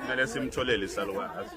kumele simtholele isalukazi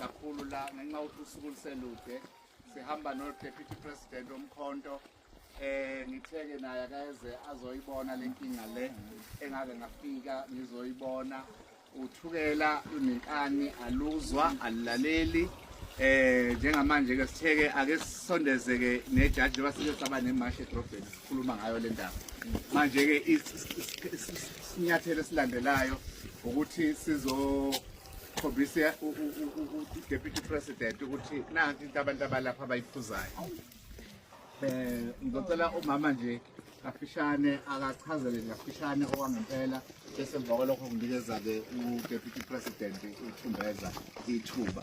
kakhulu la ngenxa ukuthi usuku luselude sihamba no-deputy president omkhonto eh ngitheke naye akayeze azoyibona lenkinga le engake ngafika ngizoyibona Uthukela lunenkani aluzwa alulaleli eh njengamanje ke sitheke ake sisondezeke nejaji njengoba sike saba nemashi edrobheni sikhuluma ngayo le ndaba manje ke isinyathelo esilandelayo ukuthi sizokhombisa u-deputy president ukuthi nanti into abantu abalapha abayiphuzayo Eh ngicela umama nje kafishane akachazele kafishane okwangempela bese emva kwalokho nginikeza-ke u-deputy president uthumbeza ithuba